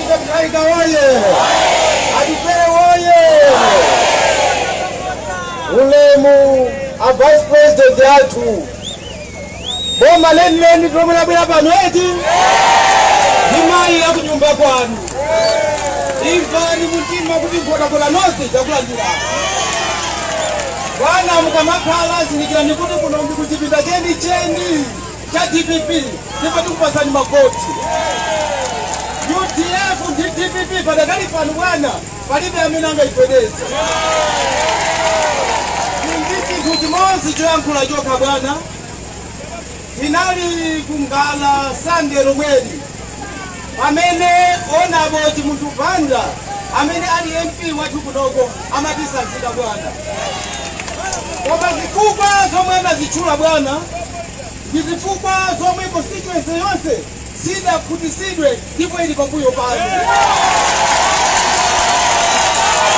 Mutharika woye! Atupele woye! Ulemu a vice president athu, boma lenileni ndi lomwe labwera pano eti ndi mayi akunyumba kwanu. Imvani mumtima kuti nkhotakota north yakulandirani. Bwana mukamakhala zindikirani kuti kuno ndi kuchipinda chenicheni. cha dpp ndipo tikupasani mavoti udf ndi dpp padakali pano bwana palibe amene angayipedeza ndi chinthu chimodzi choyankhula chokha bwana tinali ku Ngala sande lomweli Pamene Hon. Chimunthu Banda amene ali MP wathu kunoko amatisanzika bwana. Koma zifukwa zomwe anazitchula bwana ndi zifukwa zomwe constituency yonse sidakhutisidwe ndipo ili pambuyo panu.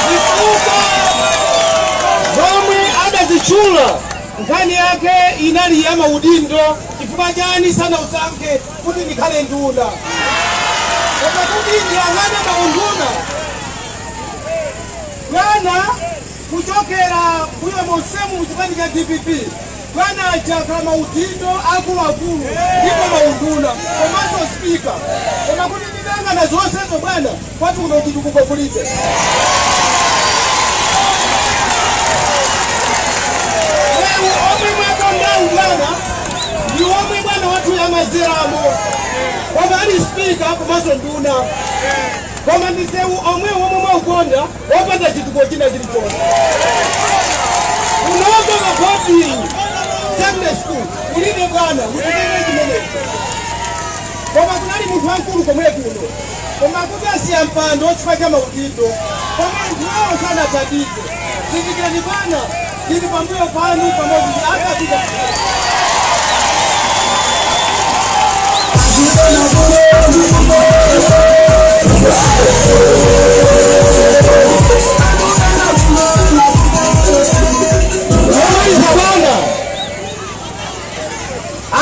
Zifukwa zomwe adazitchula nkhani yake inali ya maudindo chifukwa chani sanausankhe kuti ndikhale nduna koma kuti ndiyang'ane maunduna bwana kuchokera mbuyo monsemu mu chipani cha dpp bwana adakhala maudindo akuluakulu ndipo maunduna komanso spika koma kuti ndiyang'ana zonsezo bwana Kwathu kuno chitukuko kulibe. Sewu omwe mwauponda bwana ndi omwe bwana wathuyu amadzeramo koma ali spika komanso nduna koma ndi sewu omwe omwe mwauponda wopanda chitukuko china chilichonse kunoko ma boarding secondary school kulibe bwana kulibe chimenecho koma kunali munthu wamkulu komwe kuno Koma kuti asiya mpando chifukwa cha maudindo koma anthuwo sanathandize. Zindikirani bwana, tili pambuyo panu pamodzi ndi a Kapito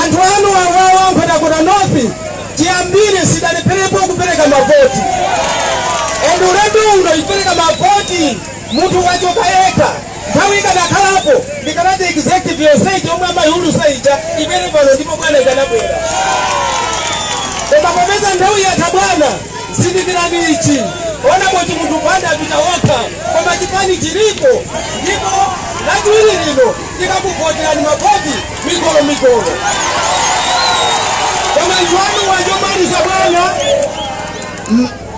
anthu anu awawa ankhotakota north chiyambire sidalepherepo kupereka mavoti and ulendo uno ipereka mavoti munthu wachoka yekha nthawi ikadakhalapo ndikanati executive yonseyi yomwe amayiulutsa ija ibwere pano ndipo bwana ikanabwera koma popeza nthawi yatha bwana zindikirani ichi Hon. Chimunthu Banda apita okha koma chipani chilipo ndipo lachiwiri lino Tikakuvoterani mavoti migolomigolo. Koma anthu anuwa, chomaliza bwana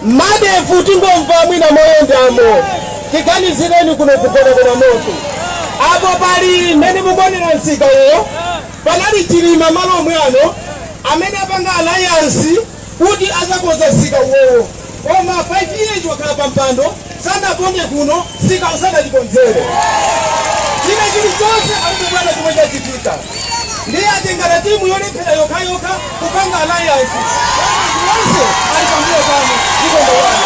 ma date-wo tingomva mwina moyendamo. Tiganizireni kuno ku Godabera North. Apo pali mmene mukuonera msika uwo panali Chilima malo omwe ano amene apanga alliance kuti azakonza msika uwowo koma 5 years wakhala pa mpando sanaponde kuno msikawo sadatikonzere china chili chonse palibe bwana chomwe chachitika ndiye atengana timu yolephera yokhayokha kupanga alliance onse ali pambuyo pano ndipo ndowani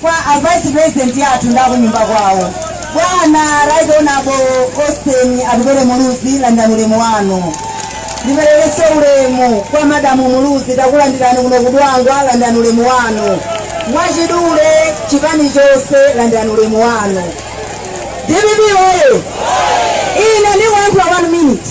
Kwa a vice president athu ndi akunyumba kwawo, bwana Right Honorable Austin Atupele Muluzi, landirani ulemu wanu. Ndiperekenso ulemu kwa madamu Muluzi, takulandirani kuno ku Dwangwa, landirani ulemu wanu. Mwachidule chipani chonse, landirani ulemu wanu. DPP oye! Ine ndiyankhula one minute.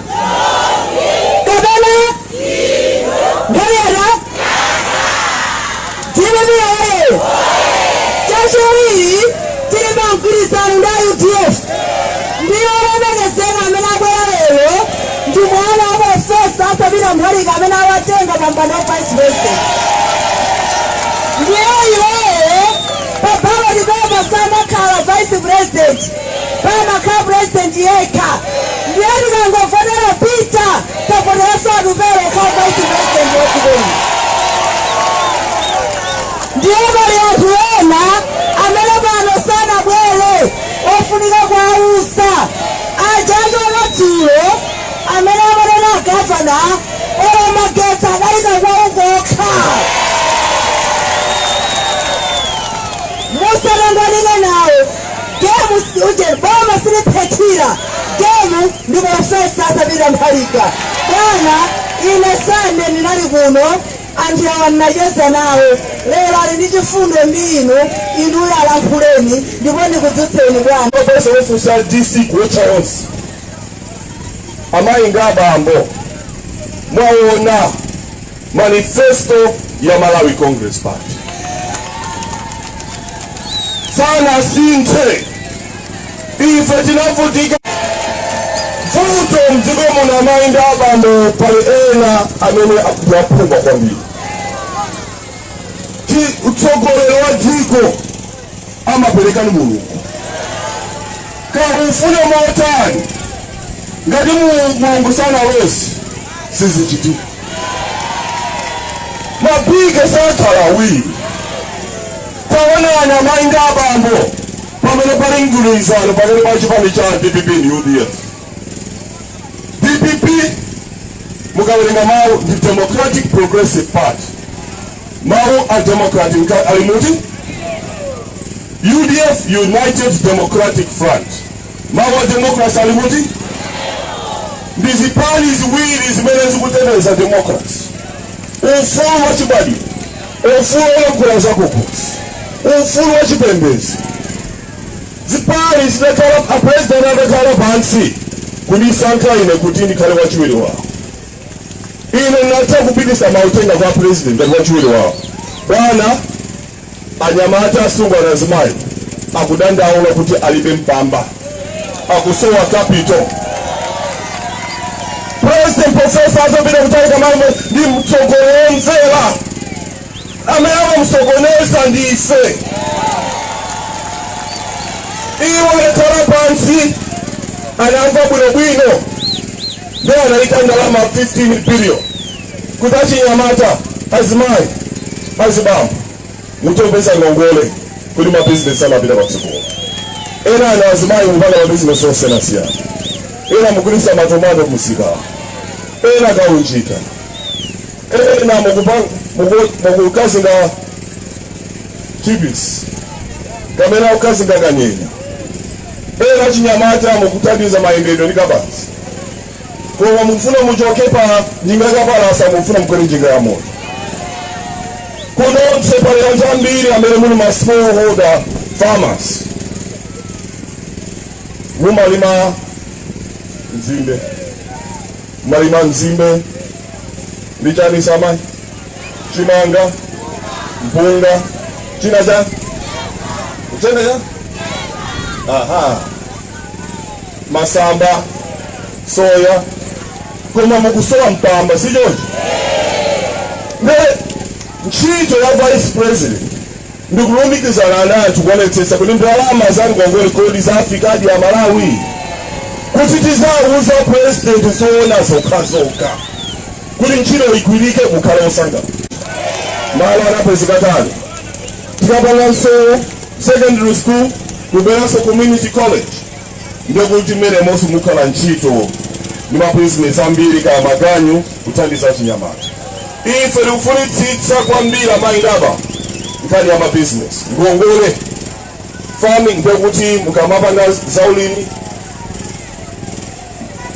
kapena nkhani yatha dpp oye chachiwiri tili pa mgwirizano ndi a udf ndi olemekezeka amene abwera lero ndi mwana wa profesa arthur mutharika amene amatenga pa mpando wa vice president ndiye iwowo pa ballot paper samakhala vice president pamakhala president yekha ndiye tikangovotera peter tavoteranso atupele okhala vice president wa dziko lino ndiye pali anthu ena amene pano sanabwere ofunika kuwauza aja achoka dzulo amene amanena gavana ola magetsi adalika kwawo kokha musatangwanike nawo Game si uje boma siliphethira game ndi profesa Arthur Peter Mutharika bwana. Ine Sande ndinali kuno, anthu awa ndinacheza nawo lero, ali ndi chifundo ndi inu, inuyo alankhuleni ndipo ndikudzutseni bwana. Profesa wofunsa DC kuwotcha onse amayi nga abambo mwaona manifesto ya Malawi Congress Party sanasinthe ife tinavutika vuto mdziko muno amayi ndi abambo pali ena amene akuwaphangira kwambiri Ti- utsogoleri wa dziko amaperekani mulungu kaufuna motani ngati Mu- mulungu sanalole sizichitika mapiko sakhala awiri taonani amayi ndi abambo pamene pali mgwirizano pakati pa chipani cha dpp ndi udf dpp mukawerenga mawu ndi democratic progressive party mawu a democratic nka- ali muti udf united democratic front mawu a democracy ali muti ndi zipani ziwiri zimene zikuteteza democracy ufulu wa chibadwidwe ufulu wolankhula zakukhosi ufulu wa chipembedzo Zipani zitakhala, a President adakhala pansi kundisankha ine kuti ndikhale wachiwiri wawo, ine nditha kupitisa mauthenga kwa President ngati wachiwiri wawo, bwana, anyamata, asungwana, azimayi akudandaula kuti alibe mpamba, akusowa capital. President Professor azapita kutalika mwamva ndi mtsogoleri womvera amene amamsokoneza ndi ife iwo anakhala pansi anamva bwinobwino nde anayika ndalama 15 billion kuti achinyamata azimayi azibambo muzipeza ngongole kuti mabizinesi apite patsogolo enanu azimayi mupanga mabizinesi osiyanasiyana ena mugulisa matomato kumsika ena kaunjika ena mukukazinga chipisi kapena kukazinga kanyenya ena achinyamata mukuthandiza mayendedwe ndi kabaza koma mukufuna muchoke pa njinga kapalasa mukufuna mukwere njinga ya moto kunoso pali anthu ambiri amene muli ma smallholder farmers mumalima nzimbe mumalima nzimbe ndi chani amayi chimanga mpunga china cha uchene cha aha masamba soya koma mukusowa mpamba si choncho nde ntchito ya vice president ndikulumikizana nanu kuonetsetsa kuti ndalama za ngongole kodi zafikadi kwa amalawi kuti tizawuza president zoona zokhazokha kuti ntchito igwirike mukhale osangalala malo anapezeka kale tikamanga msewu secondary school kubweranso community college ndiye kuti mmenemonso mukhala ntchito ndi mabizinesi ambiri kaya maganyu kuthandiza chinyamata ife tikufunitsitsa kwambiri amayi ndaba nkhani ya mabizinesi ngongole farming ndiye kuti mukamapanga zaulimi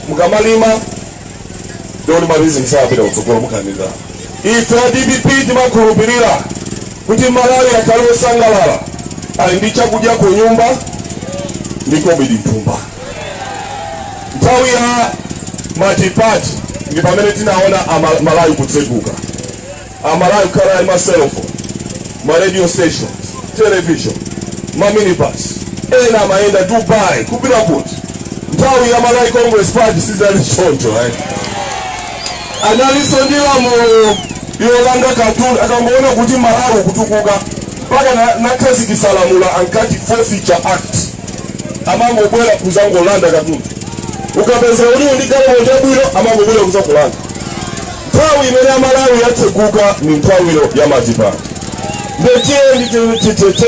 mukamalima ndiye kuti mabizinesi apita kutsogolo mukaona ife a dpp timakhulupirira Kuti Malawi akhale wosangalala, ali ndi chakudya kunyumba ndi kobidi m'thumba. Nthawi ya matipati ndi pamene tinaona ama- Malawi kutseguka, Amalawi kukhala ali maselofoni, ma radio stations, television, ma minibus, ena amayenda Dubai kupita kuti. Nthawi ya Malawi Congress Party sizali choncho eh. analinso ndi lamulo yolanga katundu akangoona kuti malawi kutukuka mpaka na- anakhazikisa lamulo ankati forfeiture act amangobwera kuzangolanda katundu ukapeza uli ndi galimoto yabwino amangobwera kuzakulanda nthawi imene malawi yatseguka ni nthawi ya matipati nde tiyeni titeteze